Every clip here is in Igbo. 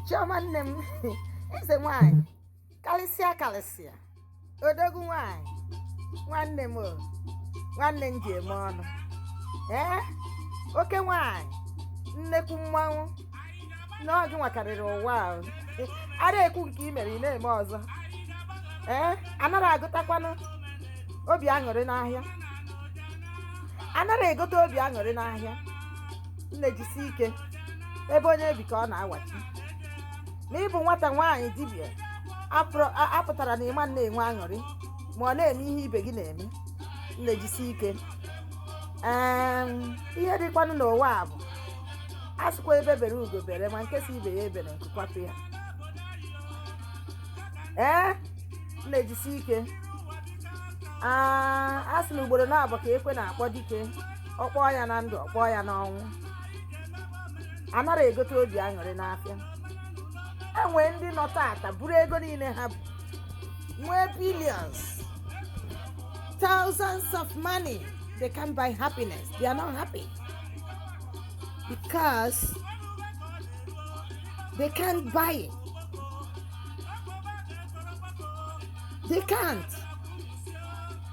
chiọma nne m eze nwanyị karịsịa karịsịa odogwu nwanyị nwanne m o nwanne m ji eme ọnụ ee oke nwanyị nnekwu mmanwụ na ọ gị nwa karịrị ụwa ahụ a na-ekwu nke i mere ị na-eme ọzọ ee anara egotakwanụ obi aṅụrị n'ahịa anara egota obi aṅụrị n'ahịa nne jisi ike ebe onye bi ka ọ na-awachi na ịbụ nwata nwaanyị dibịa apụrụ- a- apụtara na ị ma na-enwe aṅụrị ma ọ na-eme ihe ibe gị na-eme nne jisi ike Em, ihe dịkwanụ n'ụwa a bụ a sịkwa egbe bere ugo bere ma nke sị ibe ya ebere nku kwapụ ya ee nne jisi ike Ah, a sị na ugboro naabọ ka ekwe na-akpọ dike ọ kpọọ ya na ndụ ọ kpọọ ya n'ọnwụ anara egota obi aṅụrị n'afịa e nwee ndị nọ tata buru ego niile ha bu nwee billions thousands of money they can't buy happiness they are not happy because they can't buy it they can't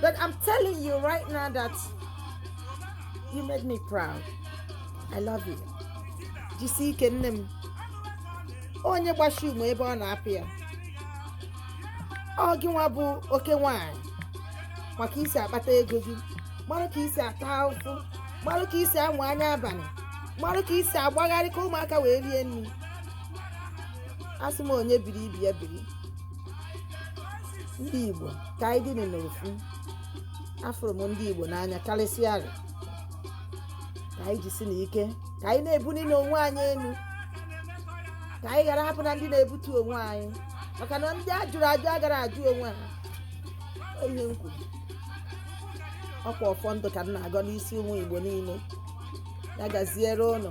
But I'm telling you right now that you made me proud. I love you. Jisi ike nne m. Onye gbashi ume ebe ọ na-apụ ya. Ọ gị nwa bụ oke nwanyị ma ka i si akpata ego gị. Mara ka i si ata ahụhụ. Mara ka i si amụ anya abalị. Mara ka i si agbagharị ka ụmụaka wee rie nri. Asị m onye biri ibe ya biri. ndị igbo ka anyị dịnị n'ofu afụrụ m ndị igbo n'anya karịsịa arị ka anyị jisi na ike ka anyị na-ebuli n'onwe anyị elu ka anyị ghara abụna ndị na-ebutu onwe anyị maka na ndị a jụrụ ajụ agara ajụ onwe ha Ọ ihe m kwuru ọkwa ọfọ ndụ ka m na-agọ n'isi ụmụ igbo niile ya gaziere ụnụ